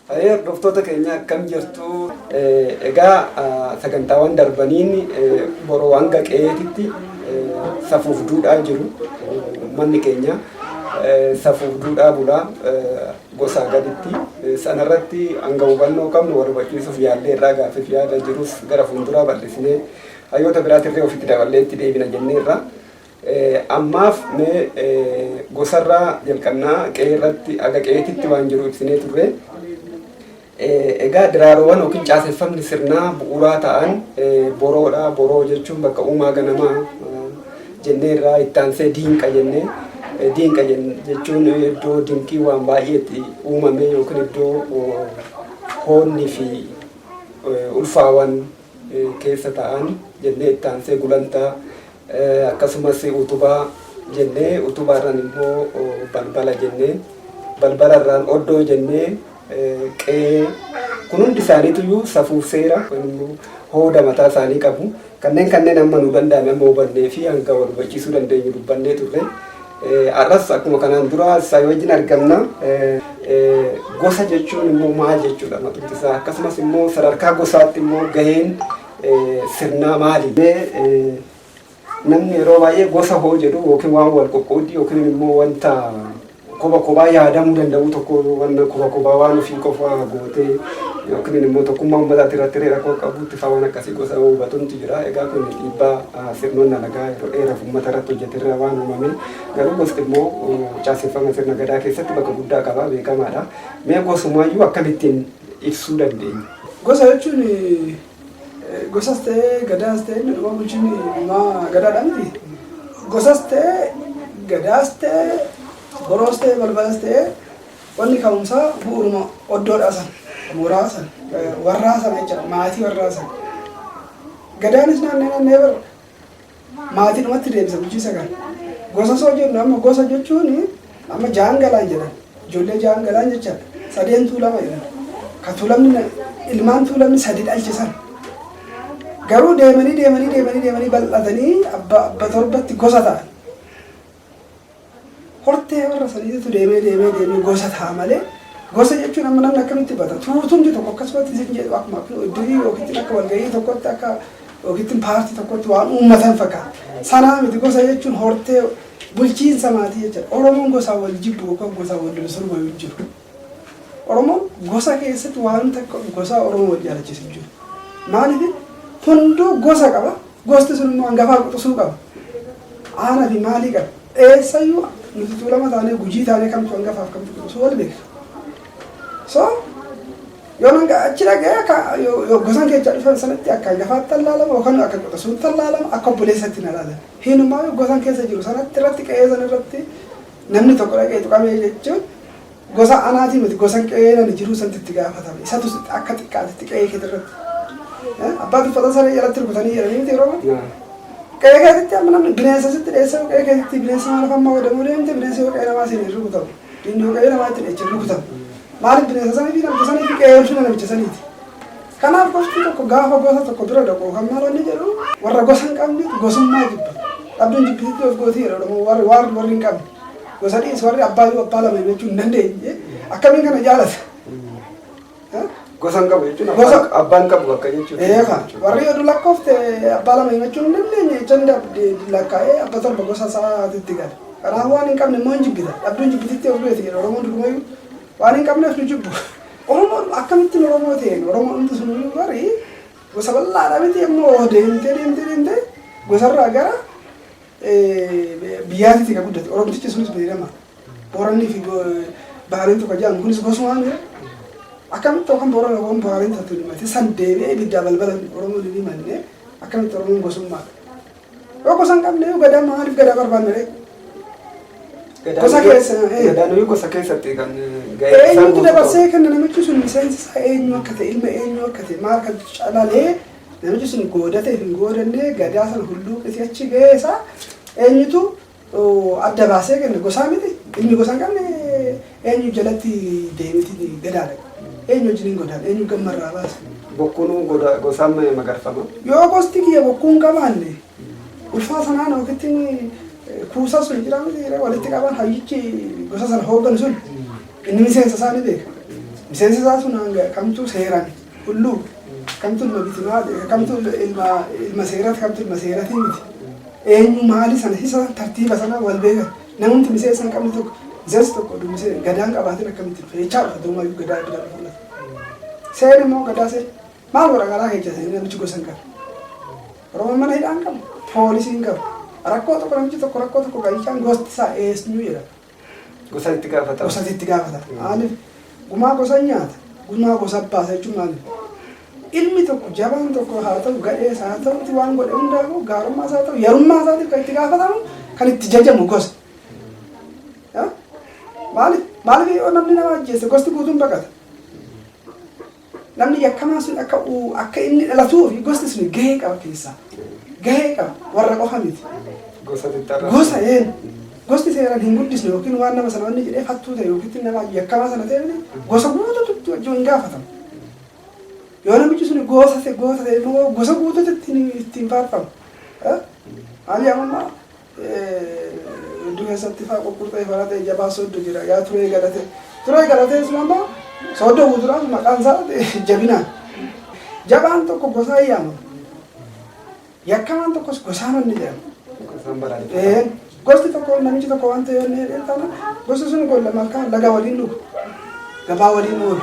Hayee hordoftoota keenya akkam jirtu? Egaa sagantaawwan darbaniin boroo hanga qe'eetitti safuuf duudhaa jiru. Uummanni keenya safuuf duudhaa bulaa gosaa gaditti. Sanarratti hanga hubannoo qabnu wal hubachiisuuf yaallee irraa gaaffiif yaada jirus gara fuulduraa bal'isnee hayyoota biraatirree ofitti daballee itti deebina jenneerra. Ammaaf mee gosarraa jalqabna. Qe'eerratti haga qe'eetitti waan jiru ibsinee turre. Egaa diraaroowwan yookiin caaseffamni sirnaa bu'uuraa ta'an boroodha. Boroo jechuun bakka uumaa ganamaa jennee irraa itti aansee diinqa jennee diinqa jechuun iddoo dinqii waan baay'ee itti uumame yookiin iddoo hoonni fi ulfaawan keessa ta'an jennee itti aansee gulantaa Akkasumas utubaa jennee utubaarraan immoo balbala jennee balbalarraan oddoo jennee qe'ee kun hundi isaaniitu safuuf seera hooda mataa isaanii qabu. Kanneen kanneen amma nu danda'ame amma hubannee fi hanga wal hubachiisuu dandeenyu dubbannee turre. Har'as akkuma kanaan dura isaa wajjin argamna. Gosa jechuun immoo maal jechuudha matumti isaa akkasumas immoo sadarkaa gosaatti immoo gaheen sirnaa maali? Namni yeroo baay'ee gosa hoo jedhu yookiin waan wal qoqqooddii yookiin immoo wanta koba kobaa yaadamuu danda'u tokko wanna koba kobaa waan ofii qofaa gootee yookiin immoo tokkummaa uummataatti irratti hiree rakkoo qabuutti faa waan akkasii gosa hoo hubatuntu jira. Egaa kun dhiibbaa ah, sirnoonni alagaa yeroo dheeraaf uummata irratti hojjeterraa waan uumame garuu gosti immoo oh, caaseffama sirna gadaa keessatti bakka guddaa qaba beekamaadha. Mee gosumaayyuu akkamittiin ibsuu dandeenya. Gosa jechuun gosas ta'ee gadaas ta'ee inni dhumaa bulchiinni dhumaa gadaadhaa miti. Gosas ta'ee gadaas ta'ee boroos ta'ee balbalas ta'ee wanni ka'umsaa bu'uuruma oddoodhaa san mooraa san warraa sana jechaadha maatii warraa sana. Gadaanis naannee naannee bar Maatiidhumatti deebisa bulchiinsa kana. Gosa soo jennu amma gosa jechuun amma jaan galaan jedhan ijoollee jaan galaan jechaadha. Sadeen tuulama jedhan. Ka tuulamni na- ilmaan tuulamni sadi dhalche san. Garuu deemanii deemanii deemanii deemanii bal'atanii abba abba torbatti gosa ta'an. Hortee warra saniititu deemee deemee deemee gosa ta'a malee gosa jechuun amma namni akkamitti bata tuutumti tokko akkasumatti isin jedhu akkuma iddirii yookiin akka walgahii tokkotti akka yookiin paartii tokkotti waan uummatan fakkaata. Sanaa miti gosa jechuun hortee bulchiinsa maatii jechuudha. Oromoon gosa wal jibbu yookaan gosa wal loluu hin jiru. Oromoo gosa keessatti waan takka gosaa Oromoo wal jaalachiisu jiru. Maaliif hunduu gosa qaba, gosti sun immoo hangafaa quxusuu qaba. Aanaa fi maalii qaba. Eessayyuu nuti tuulama taanee gujii taanee kamtu hangafaaf kamtu quxusuu wal beekna. So yoo hanga achi dhaga'e akka yoo gosan keessa dhufan sanatti akka hangafaatti tallaalama yookaan akka quxusuutti tallaalama akka obboleessatti na ilaalama. Hinumaa yoo gosan keessa jiru sanatti irratti qe'ee sana irratti Namni tokko dhaqee tuqamee jechuun gosa anaatii miti gosa qe'ee nani jiruu santi itti gaafatama. Isatu akka xiqqaatitti qe'ee keetii irratti. Abbaa tuffatan saree jalatti rukutanii jedhanii miti yeroo baay'ee. Qe'ee keetitti amma namni bineensa sitti dheessee yoo qe'ee keetitti bineensi maal afaan maa godhamuu deemte bineensi yoo qe'ee namaa seenee rukutamu. Diinni yoo qe'ee namaa itti dheechee rukutamu. Maaliif bineensa sanii fi namicha sanii fi qe'ee fi namicha saniiti. Kanaaf gosti tokko gaafa gosa tokko dura dhaqu kan maal inni jedhu warra gosa hin qabnetu gosummaa jibba. Dhabbiin jibbisitti of gootii jedha Oromoo warri waarri warri hin qabne. Gosa dhiis warri abbaa yoo abbaa lama jechuu hin dandeenye akkamiin kana jaalata. Gosa hin qabu jechuun Gosa- abbaan- abbaan qabu bakka jechuudha. Eefa warri oduu lakkoofte abbaa lama himachuun hin dandeenye jechaan dhabde lakkaa'ee abba torba gosa isaatitti gala. Kanaaf waan hin qabne immoo hin jibbita. Dhabduun jibbititti of beeti jedha Oromoon durumayyuu waan hin qabneef nu jibbu. Oromoon akkamittin Oromoo ta'een Oromoo dhumti sun hunduu bari gosa bal'aadha miti amma oo deemtee deemtee deemtee gosarraa gara biyyaatitti ka guddate Oromtichi sunis beekama Boorannii fi Bahareen tokko jedhamu kunis gosumaan jira akkamitti yookaan Boorana yookaan Bahareen tattu himate san deebi'ee ibiddaa balbala Oromoon hin himanne akkamitti Oromoon gosummaadha. Yoo gosa hin qabne yoo gadaa maaliif gadaa barbaanna ree? Gosa keessa. eh. Gadaanuu gosa keessatti kan gahee isaa Eenyutu guutuu dabarsee qabu. kenna namichi sun miseensi isaa eenyu akka ta'e ilma eenyu akka ta'e maal kan calalee namichi sun goodate hin goodannee gadaa sana hulluuqisee achi gahee isaa eenyutu adda baasee kenna gosaa miti inni gosa hin qabne eenyu jalatti deemiti gadaadha eenyu wajjin hin godaan eenyu gamma irraa baasa. Bokkuun goda gosaan ma- magarfama. Yoo gosti kiyya bokkuu hin qabaanne ulfaa sanaan yookitti kuusaa sun jira miti jira walitti qabaan hayyichi gosa sana hoogganu sun inni miseensa isaa ni beeka. Miseensi isaa sun hanga kamtu seeraan Hulluu, kamtu ilma bitimaa, kamtu ilma ilma seerati, kamtu ilma seeratii miti. Eenyu maali sana hisa tartiiba sana wal beekan. Namumti miseensa hin qabne tokko miseensi tokko oduu miseensa gadaan qabaatin akkamitti dhufe jechaa dhufa duumaa iyyuu gadaa bira dhufu lafa. Seera immoo gadaa seera. Maal warra garaa keessa seera namichi gosa hin qabu. Oromoon mana hidhaa hin qabu. Poolisiin hin qabu. Rakkoo tokko namichi tokko rakkoo tokko galchaan gosti isaa eesnuu jedha. Gosa itti gaafata. Gosa itti gaafata. Maaliif? Gumaa gosa nyaata. Gumaa gosa baasa jechuun maaliif? Ilmi tokko jabaan tokko haa ta'u gadhee isaa haa ta'utti waan godhe hundaafuu gaarummaa isaa ta'u yarummaa isaatiif kan itti gaafatamu kan itti jajamu gosa. Maaliif? Maaliif yoo namni nama ajjeese gosti guutuun baqata? Namni yakkamaan sun akka akka inni dhalatuu fi gosti sun gahee qaba keessaa. Gahee qaba. Warra qofa miti. Gosa xixiqqaa. Gosa een. Gosti seeraan hin guddisne yookiin waan nama sana wanni jedhee hattuu ta'e yookiin nama yakkamaa sana ta'e malee gosa guutuutti wajjin hin gaafatamu. Yoo namichi sun gosa ta'e goota ta'e immoo gosa guutuutti ittiin faarfamu. Maal yaamammaa? Wedduu keessatti faa qurqurtee fara ta'e jabaa sooddo jira yaa turee galatee. Turee galatee sun amma sooddo guutuudhaaf maqaan isaa jabinaa. Jabaan tokko gosaa yaama. Yakkamaan tokkos gosaa manni jedhama. Isaan balaaleffatan. Gosti tokko namichi tokko waan ta'e inni jedhee taana gosti sun golla malkaa laga waliin dhugu. Gabaa waliin oolu.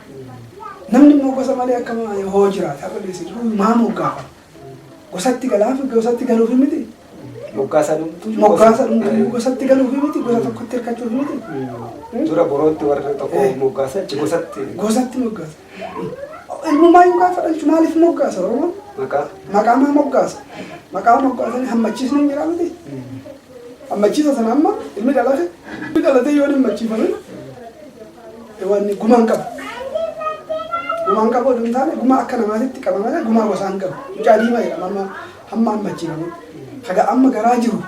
Namni immoo gosa malee akka hoo jiraate akka geesse jiru maa moggaafama? Gosatti galaaf gosatti galuufi miti. Moggaasa dhumtuu. Moggaasa dhumtuu gosatti galuufi miti gosa tokkotti hirkachuufi miti. Dura borootti warri tokko moggaasa achi gosatti. Gosatti moggaasa. Ilmummaa yoo gaafa dhalchu maaliif moggaasa Oromoon? Maqaa. Maqaa maa moggaasa? Maqaa moggaasanii hammachiisni hin jiraa miti. Hammachiisa sana amma ilmi dhalate ilmi dhalatee yoo hin hammachiifame Waan gumaa hin qabu. Gumaa hin qabu oduu hin taane gumaa akka namaatitti qaba malee gumaa gosaa hin qabu. Mucaa diimaa jedhama amma hamma amma ajjeefame. Haga amma garaa jiru.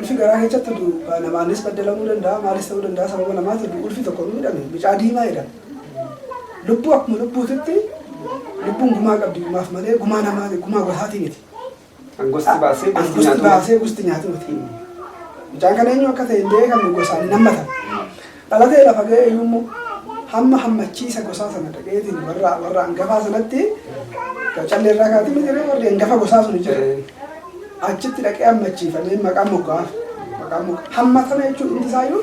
Ulfi garaa keessatti du namaanis baddalamuu danda'a maalis ta'uu danda'a sababa namaati du ulfi tokko hin midhame mucaa diimaa jedhama. Lubbuu akkuma lubbuutitti lubbuun gumaa qabdi gumaaf malee gumaa namaati gumaa gosaatii miti. Kan gosti baasee Kan gosti gosti nyaatu. baasee gosti nyaatu miti. Mucaan kan eenyu akka ta'e hin beekamu gosaan hin hammatan. Dhalatee lafa ga'e iyyuu immoo hamma hammachiisa gosaa sana dhaqeetiin warra warra hangafaa sanatti callee irraa kaatee miti ree warri hangafa gosaa sun jira. Achitti dhaqee hammachiifamee maqaa moggaaf maqaa moggaa hammatame jechuun hundi isaayyuu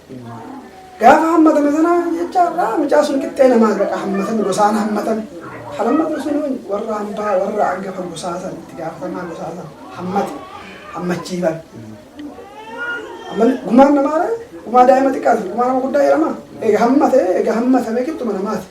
Gaafa hammatame sana jecha irraa mucaa sun qixxee namaa gaqa hammatame gosaan hammatame. Kan hammatu sun warra hambaa warra angafa gosaa san itti gaafatamaa gosaa san hammate hammachiifan. Amma gumaan namaa gumaa daa'ima xiqqaati gumaa nama guddaa jedhama. Egaa hammate egaa hammatame qixxuma namaati.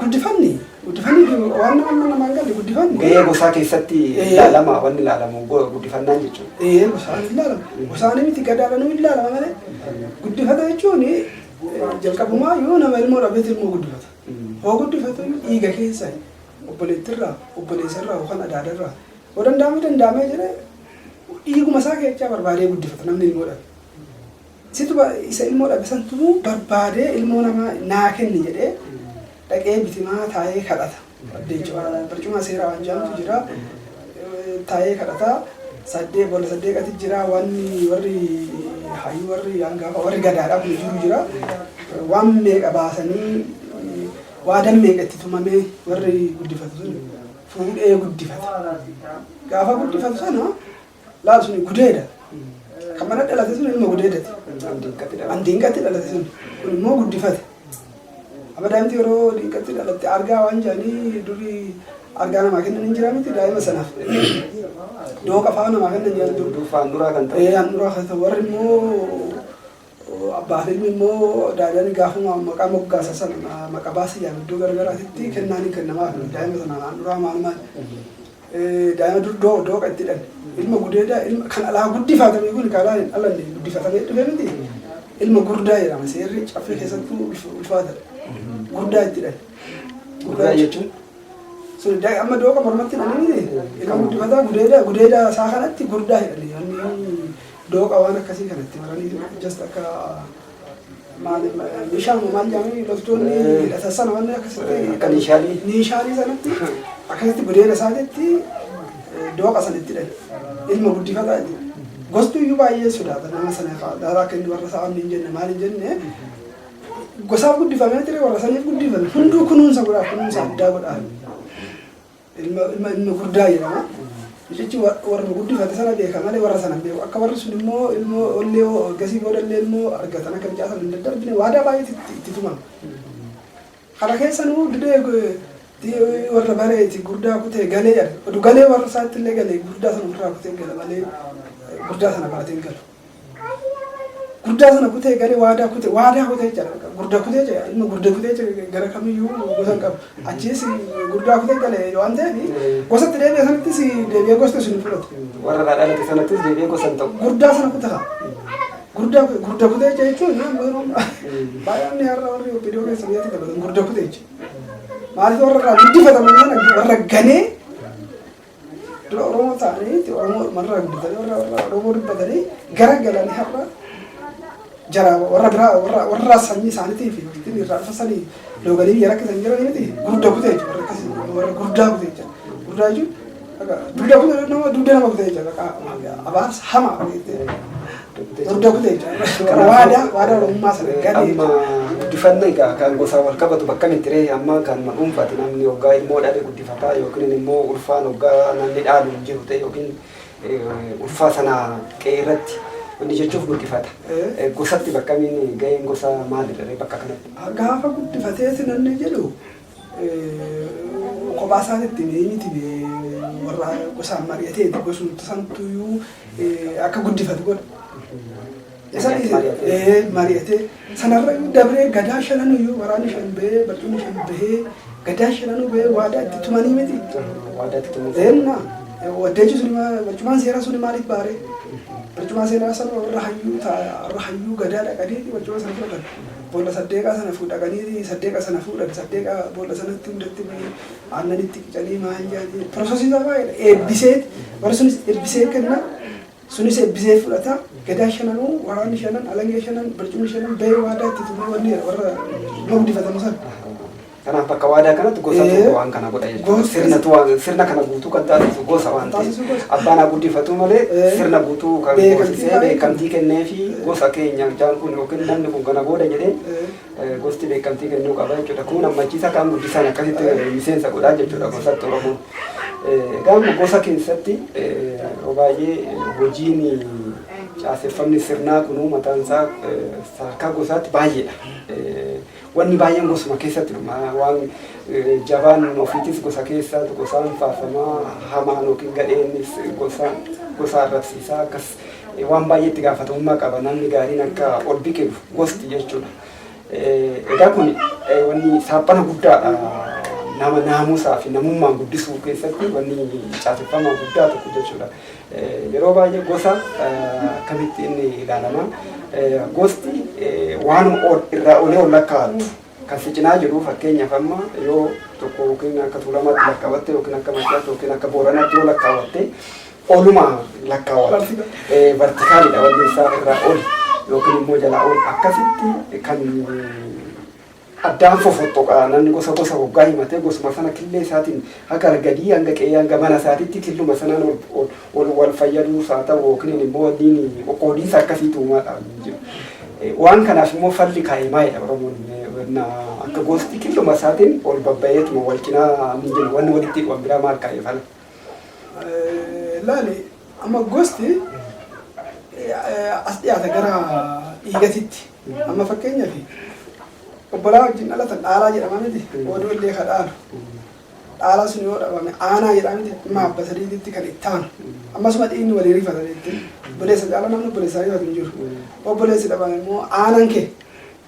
Guddifanni guddifanni waan nama amma namaan galle guddifanni. Gahee gosaa keessatti Ee. ilaalama wanni ilaalamu go- guddifannaan jechuudha. Ee gosaan hin laalama. Gosaanii miti gadaadhanuu hin laalama malee. Guddifata jechuun eh, jalqabumaa yoo nama ilmoo dhabeet ilmoo guddifata. Mm. Hoo guddifatu dhiiga keessa obboleettirraa, obboleessarraa yookaan adaadarraa. Yoo danda'ame danda'amee jedhee dhiiguma isaa keessaa barbaadee guddifata namni ilmoo dhabe. Situ isa ilmoo dhabe san tumuu barbaadee ilmoo namaa naa kenni jedhee dhaqee bitimaa taa'ee kadhata. Barcumaa seeraa waan jedhamtu jira. Taa'ee kadhata. Saddee boolla saddeeqati jira. Wanni warri hayyuu warri hangafa warri gadaadhaa kun jiru jira. Waan meeqa baasanii waadan meeqa itti tumamee warri guddifatu sun fuudhee guddifata. Gaafa guddifatu sana Laal suni gudeeda. Kan mana dhalate sun ilma gudeedati. An diinqatti dhalate sun. Kun immoo guddifate. Amma daa'imti yeroo diinqatti dhalatte argaa waan jedhanii durii argaa namaa kennan hin jiraa miti daa'ima sanaaf. Dooqa fa'aa namaa kennan jedhan dur. Durfaan duraa kan ta'e. Ee handhuraa kan ta'e warri immoo Abbaa fi ilmi immoo daa'imani gaafuma maqaa moggaasa sana maqa baasiyaan iddoo garagaraatitti kennaan hin kennamaaf daa'ima sana handhuraa maalumaan daa'ima durdoo dooqa itti dhan ilma gudeedaa ilma kan alaa guddifatame kun kalaa hin dhalanne guddifatamee dhufe miti ilma gurdaa jedhama seerri caffee keessattuu ulfaata gurdaa itti dhan Gurdaa jechuun sun daa- amma dooqa mormatti dhananii ilma guddifataa gudeedaa gudeedaa isaa kanatti gurdaa jedhani Dooqa waan akkasii kana itti maraniitu just akka maal meeshaan maal jedhamanii loltoonni hidhatan sana wanni akkasitti Akka meeshaalee. meeshaalee sanatti akkasitti budeena isaanitti eh, dooqa sanitti hidhan ilma guddifataa inni gosti iyyuu baay'ee sodaata nama sana fa'aa daaraa akka inni warra isaa wanni hin jenne maal hin jenne gosaaf guddifamee ture warra saniif guddifame hunduu kunuunsa godhaa kunuunsa addaa godhaa Ilma ilma ilma guddaa jedhama. Mucichi wa- warra guddifate sana beeka malee warra sana hin beeku. Akka warri sun immoo ilmoo ollee hoo gasii booda illee ilmoo argatan akka mucaa sana hin daddarbine waadaa baay'eetu itti itti tumama. Kana keessa nuu didee eh, di- warra bareeti gurdaa kutee galee jedha. Odu galee warra isaatti illee galee gurdaa sana ofirraa kutee gala malee eh, gurdaa sana baatee hin galu. guddaa sana kutee galee waadaa kutee waadaa kutee jira gurda kutee jira inni gurda kutee jira gara kamiyyuu gosa hin qabu achiis gurdaa kutee galee waan ta'eef gosatti deebi'e sanattis deebi'ee gosti sun hin fudhatu. Warra irraa dhalate sanattis deebi'ee gosa hin ta'u. Gurdaa sana kutata. Gurdaa gurda kutee jira jechuun yeroo baay'een har'a warri obbidoo keessa biyyaatti taphatan gurda kutee jira. Maaliif warra irraa guddifatame sana warra ganee Dura Oromoo taa'anii itti Oromoo marraa guddatanii warra warra Oromoo dubbatanii gara galanii har'a jara warra biraa warra warra sanyii isaaniitii fi ittiin irraa dhufa sanii looganii biyya rakkisan jiranii miti gudda kutee jechuudha warra akkasii warra guddaa kutee jechuudha guddaa jechuudha dugda kutee nama dugda nama kutee jechuudha abaarsa hamaa Hordofte jechuudha. Waadaa waadaa Oromummaa sana gale. Amma guddifanna egaa kan gosaan wal qabatu bakka miti ree amma kan ma dhuunfaati namni hoggaa ilmoo dhabe guddifataa yookiin immoo ulfaan hoggaa namni dhaalu hin jiru ta'e yookiin eh, ulfaa sana qe'ee irratti inni jechuuf guddifata. Eh. Eh, Gosatti bakkamiin ga'een gosa maalidha ree bakka kanatti? Gaafa guddifatee si namni jedhu kophaa isaanitti miti warra gosaan mari'atee gosumti santuyyuu akka guddifatu godha. Isa mari'atee sanarra dabree gadaa shananuyyuu waraanni shan bahee barcumni shan bahee gadaa shananuu bahee waadaa itti tumanii miti. Waadaa itti tumuu. Eenna waddeechi sun barcumaan seeraa sun maaliif baaree? Barcumaa seeraa sana warra hayyuu ta'a warra hayyuu gadaa dhaqanii barcuma sana fudhatan. Boolla saddeeqaa sana fu dhaqanii saddeeqa sana fuudhan saddeeqa boolla sanatti hundatti bu'ee aannanitti qicanii maal jaanii piroosesii isaa baay'eedha eebbisee warri sunis eebbisee kenna sunis eebbisee fudhata gadaa shananuu waraanni shanan alangee shanan barcumni shanan bahee waadaa itti tumee wanni warra loon difatamu sana. Kanaaf bakka waadaa kanatti gosa Ee. tokko waan kana godha jechuudha. Gosa- Sirna tu waan sirna kana guutuu kan taasisu gosa waan ta'eef Taasisu gosa. abbaan haa guddifatu malee Ee. sirna guutuu kan Beekamtii goosisee kan beekamtii kennee fi Ee. gosa keenya jaan kun yookiin namni kun kana booda jedhee Ee. eh, gosti beekamtii kennuu qaba jechuudha. Kun hammachiisa kan guddisaan akkasitti eh, miseensa godhaa jechuudha gosatti Oromoon. Eh, Gaafa gosa keessatti eh, yeroo baay'ee eh, hojiin caaseffamni sirnaa kunuu mataan isaa eh, sadarkaa gosaatti baay'eedha. Eh, Wanni baay'een gosuma keessatti dhuma. Waan jabaan ofiitis gosa keessa gosaan faarfama, hamaan yookiin gadheenis gosa gosa arrabsiisa. Akkas waan baay'ee itti gaafatamummaa qaba. Namni gaariin akka ol biqilu gosti jechuudha. Eh, Egaa kun eh, wanni saaphana guddaadha. Nama naamusaa fi namummaan guddisuu keessatti wanni caaseffama guddaa tokko jechuudha. Yeroo baay'ee gosa akkamitti inni ilaalama? Gosti waanuma ol irraa olee ol lakkaa'attu kan si cinaa jiru fakkeenyaaf amma yoo tokko yookiin akka tuulamaatti lakkaa'atte yookiin akka maccaatti yookiin akka booranaatti yoo lakkaa'atte oluma lakkaa'atti vertikaalidha wanni isaa irraa ol yookiin immoo jalaa ol akkasitti kan addaan fofottoqa. Namni gosa gosa hoggaa himatee gosuma sana killee isaatiin haga argadii hanga qe'ee hanga mana isaatitti killuma sanaan ol ol ol wal fayyaduus haa ta'u yookiin immoo wanniin qoqqoodiinsa akkasiitu uumaadha hin jiru. Eh, Waan kanaaf immoo falli kaa'e maalidha Oromoon eh, wanna akka gosti killuma isaatiin ol babba'eetuma wal cinaa ni jenna wanni walitti hidhu biraa maal kaa'e fala. Laali amma gosti as dhiyaata gara dhiigatitti. Amma fakkeenyaaf obbolaa wajjin dhalatan dhaalaa jedhama miti. Oduu illee ka dhaalu. Dhaalaa sun yoo dhabame aanaa jedhama miti. Amma abba sadiititti kan itti aanu. Ammasuma dhiigni walii rifata jechuun. Obboleessa caala namni obboleessaa rifatu hin jiru. Obboleessi dhabame immoo aanan kee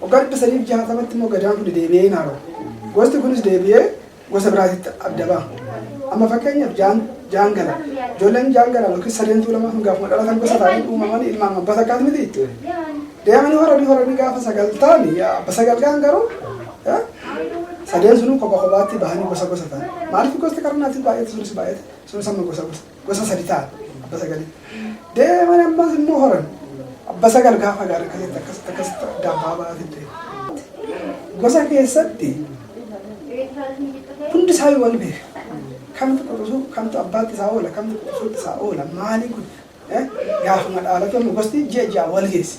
Waggaa 960tti immoo Gadaan kun deebi'ee hin haara'u. Gosti kunis deebi'ee gosa biraatitti adda ba'a. Amma fakkeenyaaf jaan, jaangala. Ijoolleen jaangala yookiin sadeen tuulamaa kun gaafuma dhalatan gosa ta'anii uumaman ilmaan abbaa takkaati miti. Deemanii horanii horanii gaafa sagal ta'an yaa abba sagal ga'an garuu eh, sadeen sunuu kopha kophaatti bahanii gosa gosa ta'an. Maaliif gosti qarnaatiin baay'ate sunis baay'ate sunis amma gosa gosa. gosa sadi ta'a abba sagalii deeman ammas immoo horan abba sagal gaafa gaara akkasitti akkasitti akkasitti addaan baaba'aati ture gosa keessatti hundi isaa yoo wal beeka kamtu quxusuu kamtu abbaatti isaa oola kamtu quxusuutti isaa oola maalii kun gaafuma dhaalatu amma gosti ji'a ji'a wal geessi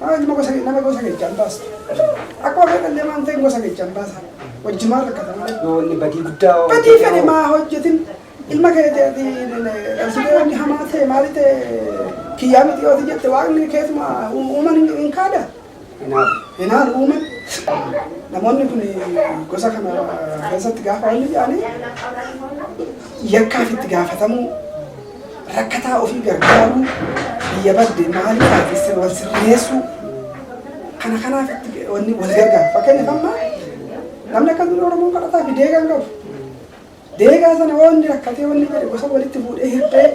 Maaluma gosa kee nama gosa kechaan baasa. Akkuma fedhe illee waan ta'e gosa kechaan baasa. Wajjumaan rakkata malee. Yoo inni badii guddaa hoo Badii hojjete fedhe hoo? maa hojjetin ilma keetii ati dhabsitee wanni hamaa ta'e maali ta'e kiyyaa miti yoo ati jette waaqni keessuma uuman hin- hin kaada. Kanaaf Hinaan uuman namoonni kun gosa kana keessatti gaafa wanni jedhanii yakkaaf itti gaafatamuu rakkataa ofii gargaaruu, biyya badde maalii taasisee wal sirreessuu kana kanaaf itti wanni wal gargaaru. Fakkeenyaaf amma namni akka durii Oromoon kadhataa fi deegaa hin qabu. Deegaa sana waan inni rakkatee wanni jedhe gosa walitti fuudhee hirtee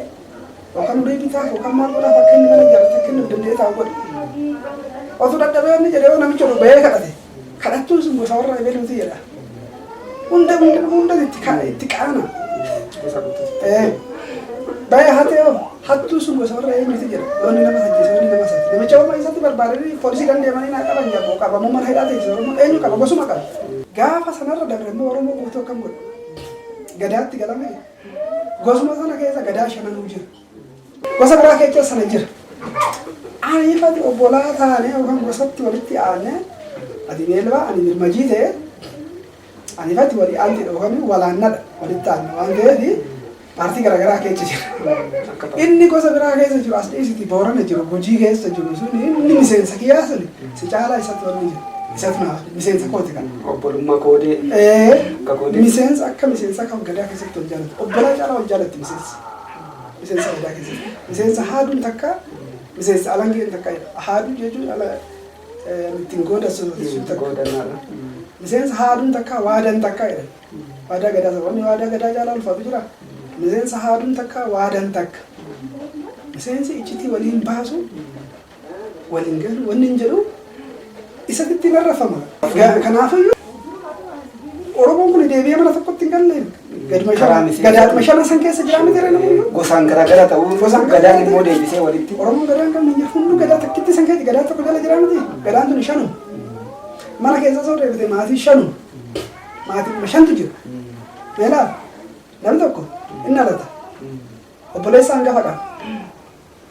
yookaan ulee bitaaf yookaan maal godhaaf akka inni mana ijaarratu akka inni of danda'ee taa'u godhe. Otuu dadhabee wanni jedhee yoo namicha dhufee kadhate Kadhattuun sun gosa warra ebeluuti jedha. Hunda hunda hunda itti ka- itti qaana. Eh, Baya hatee hoo hattuu sun gosa warra eenyuti jedha. Warri nama ajjeese warri nama sati. Namicha warra isatti barbaadanii poolisii kan deemanii naa qaban jedha. Boo qabamuu mana hidhaa teessisa Oromoo eenyu qaba gosuma qaba. Gaafa sanarra dabre immoo Oromoo guutuu akkam godha. Gadaatti galame. Gosuma sana keessa gadaa shananuu jira. Gosa biraa kee keessa na jira. Ani ifatti obbolaa taanee yookaan gosatti walitti aanee ati beelbaa ani birmajii ta'e ani ifatti walii aanteedha yookaan walaannadha walitti aanna waan ta'eef paartii garaagaraa keessa jira. Inni gosa biraa keessa jiru as dhiisiti boorana jiru gujii keessa jiru sun inni miseensa kiyyaa sun si caalaa isatti walii jira. Isatti naaf miseensa kooti kana. Obbolummaa koodee. Ee, Akka koodee. miseensa akka miseensa kan gadaa keessatti wal jaalatu obbolaa caalaa wal jaalatti miseensa. miseensa waldaa keessatti. Miseensa haaduun takka miseensa alangeen takka haaduu jechuun ala ittiin goodassu miseensa haaduun takka waadan takka jedhan. Waadaa gadaa wanni waadaa gadaa jaalaa ulfaatu jira. Miseensa haaduun takka waadan takka. Miseensi iccitii waliin baasu waliin galu wanni hin jedhu isa bitti hin arrafama. Kanaafiyyuu Oromoon kun deebi'ee mana tokkotti hin galle gaduma Karaa shan- miseensa- gadaadhuma shanan san keessa jiraa miti reen hunduu. Gosaan garaagara ta'uu Gosaan gosaan gadaan garaagara. immoo deebisee walitti. Oromoon gadaa hin qabne hin jiru. Hunduu gadaa takkitti san keessa gadaa tokko jala jiraa miti. Gadaan tuni shanu. Mana keessa osoo deebite maatii shanu. Maatii shantu jira. Meelaa namni tokko inni alata. Obboleessa hangafa qaba.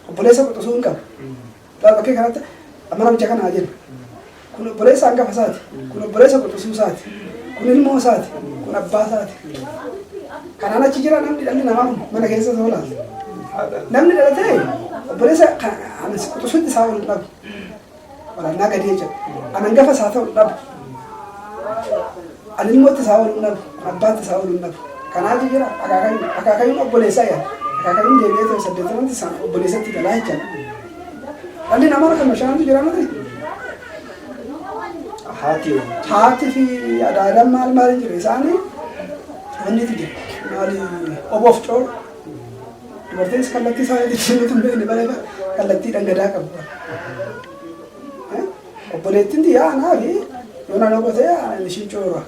Obboleessa quxusuu hin qabu. Laa bakkee kanatti amma namicha kana haa jennu. Kun obboleessa hangafa isaati. Kun obboleessa quxusuu isaati. Kun ilmoo isaati. Kun abbaa isaati. Kanaan achi jira namni dhalli namaa kun mana keessa soo laata. Namni dhalatee obboleessa kan- ani quxusuutti isaa ol hin dhabu. Waraannaa gadee jedhu. An hangafa isaa ta'u dhabu. Ani ilmoo itti isaa oolu dhabu. Abbaa itti isaa oolu dhabu. Kanaatu jira akaakayyuun akaakayyuun obboleessaa yaa. Akaakayyuun deebi'ee ta'e saddeettamanti isaan obboleessatti galaa jechuudha. Dhalli namaa kan mashaantu jira miti. Haati yoo. Haati fi adaadaan maal maal jira isaanii wanni itti jira. Maali oboof coola. Dubartiinis kallattii isaa yoo jijjiiruu hin beekne bara bara kallattiidhaan gadaa qabu. Obboleettiin yaa naafi yoo naannoo gotee ishii coora.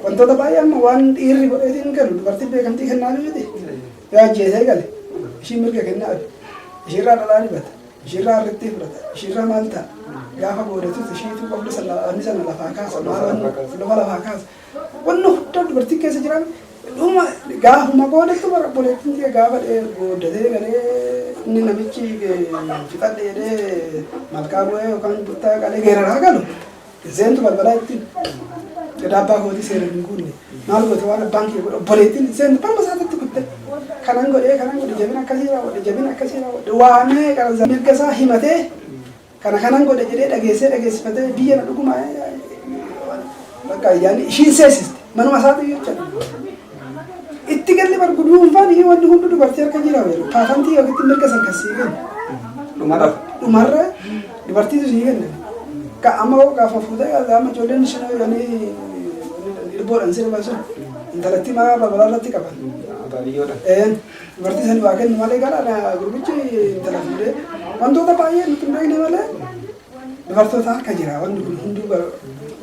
Wantoota baay'ee amma waan dhiirri godheetiin galu dubartiin beekamtii kennaa miti. Yoo ajjeesee gale ishii mirga kennaa ishiirraa dhalaa dibata. Ishiirraa harrittii fudhata. Ishiirraa maal ta'a? Gaafa boodatus ishiitu qabdu sana lafaa kaasa. Maal lafa lafaa kaasa? Wanna hundaa dubartiin keessa jiraan dhuma gaafuma boodattu bara obboleettiin tiyya gaafa dhee gooddatee galee inni namichi fixadhe jedhee malkaa bu'ee yookaan buttaa qalee geeraraa galu seentu balbalaa ittiin gadaa abbaa kootii seera hin guunne maal goote waan abbaan kiyya godhe obboleettiin seentu balma isaatitti kutte kanan godhee kanan godhe jabina akkasii raawwadhe jabina akkasii raawwadhe waamee qaransa mirga isaa himatee Kana kanan godhe jedhee dhageessee dhageessifatee biyya na dhuguma bakka ayyaanni ishiin seesiste manuma isaatu iyyuu jechuudha. Itti galli bar guduunfaan iyyuu wanti hundi dubartii harka jira beeku. Kaafantii yookiin mirga san kan sii kennu. Dhumarra. Dhumarra dubartiitu sii kenna. Ka amma hoo gaafa fuutee gaafa amma ijoolleen sun jedhanii lubboodhaan sirba sun intalattii maa babalaa irratti qaban. Baadiyyoodha. Een. Dubartii saniif haa kennu malee gara na gurbichi intala fuudhee wantoota baay'ee nuti hin beekne malee dubartoota harka jira wanni kun hunduu bar-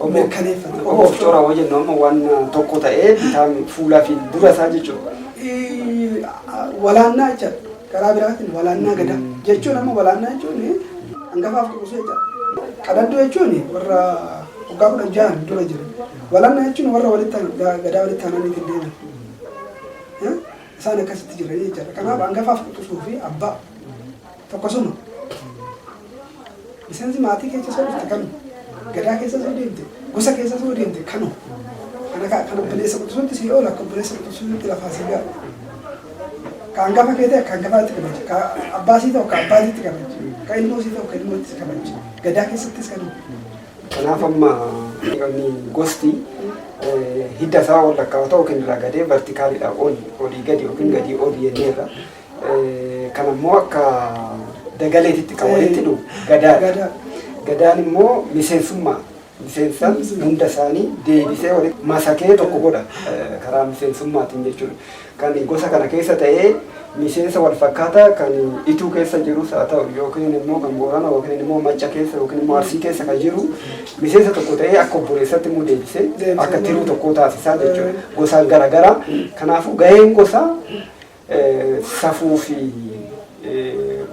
Obbo- mirkaneeffate. Obbo of coraa hoo jennu amma waan tokko ta'ee bitaan fuulaa fi dura isaa jechuudha. Ii- a- walaannaa jecha karaa biraatiin walaannaa gada jechuun amma walaannaa jechuun hangafaaf kuusee jecha qadadduu jechuun warra waggaa kudha jahan dura jiru walaannaa jechuun warra walitti aan- ga- gadaa walitti aananiitiin deeman Isaan akkasitti jiranii jechaadha. Kanaaf hangafaaf quxusuu fi abbaa tokkosuma. Miseensi maatii keessa soo dhufte kanu. Gadaa keessa soo deemte. Gosa keessa soo deemte kanu. Kana kaa kan obboleessa quxusuutti sii oola akka obboleessa quxusuutti lafaa sii ga'a. Ka hangafa kee ta'e ka hangafaatti kabaja. Ka abbaa sii ta'u ka abbaatitti kabaja. Ka ilmoo sii ta'u ka ilmootti kabaja. Gadaa keessattis kanu. Kanaaf amma dhiiramni gosti hidda isaa ol lakkaa'ota yookiin irraa gadee vertikaalidha ol olii gadi yookiin gadii ol jenneerra. Kan ammoo akka dagaleetitti kan walitti dhufu gadaadha. Gadaan immoo miseensummaa miseensa hunda isaanii deebisee walitti masakee tokko godha karaa miseensummaatiin jechuudha. kan gosa kana keessa ta'ee miseensa wal fakkaataa kan ituu keessa jirus haa ta'u yookiin immoo kan boorana yookiin immoo macca keessa yookiin immoo arsii keessa kan jiru miseensa tokko ta'ee akka obboleessatti immoo deebisee Deebisee akka tiruu tokkoo taasisaa jechuudha Eh. gosaan garaagaraa kanaafuu gaheen gosaa eh, safuu fi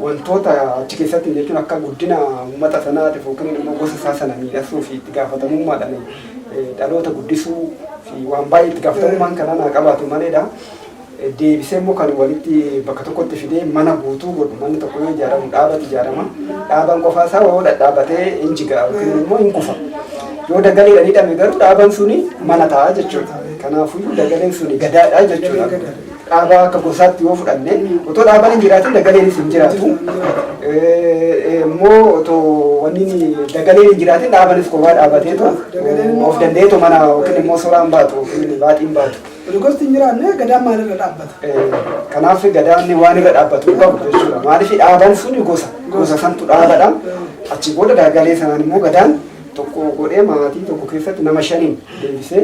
wantoota achi keessatti jechuun akka guddina uummata sanaatiif yookiin immoo gosa isaa sana miidhagsuu fi itti gaafatamummaadhaan eh, dhaloota guddisuu fi waan baay'ee itti gaafatamummaan kanaa naa qabaatu maleedha. Eh, Deebisee immoo kan walitti bakka tokkotti fidee mana guutuu godhu manni tokko yoo ijaaramu dhaabatu ijaarama. Dhaabaan qofaa isaa yoo dhadhaabatee hin jigaa yookiin immoo hin kufa. Yoo dagaleedhaan hidhame garuu dhaabaan suni mana ta'a jechuudha. Kanaafuu dagaleen suni gadaadha jechuudha. Dhaabaa akka gosaatti yoo fudhanne otoo dhaabaan hin jiraatin dagaleenis hin jiraatu. Immoo otoo wanni dagaleen hin jiraatin dhaabanis kophaa dhaabateetu of danda'eetu mana yookiin immoo suuraan baatu yookiin baaxiin baatu. Gosti hin jiraanne gadaan maalirra dhaabbata? Kanaaf gadaan waan irra dhaabbatu qabu jechuudha. Maaliif dhaabaan sun gosa gosa santu dhaabadha. Achi booda dagalee sanaan immoo gadaan tokko godhee maatii tokko keessatti nama shaniin deebisee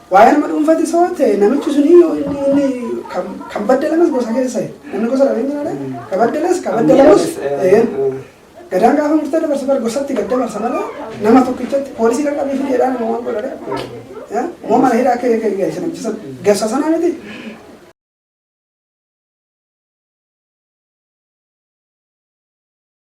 Waa'ee nama dhuunfati soo ta'e namichi suni yoo inni inni kan kan baddalamas gosa keessa ta'e. Namni gosa dhabee jira dha. Kan baddalas kan baddalamus ta'een. Gadaan gaafa murtee dabarsa bar gosatti gad dabarsa malee nama tokkichatti poolisii kan qabee fidee dhaan waan godha dha. Moo mana hidhaa akka eegan gahe sana bisan gasa sana miti.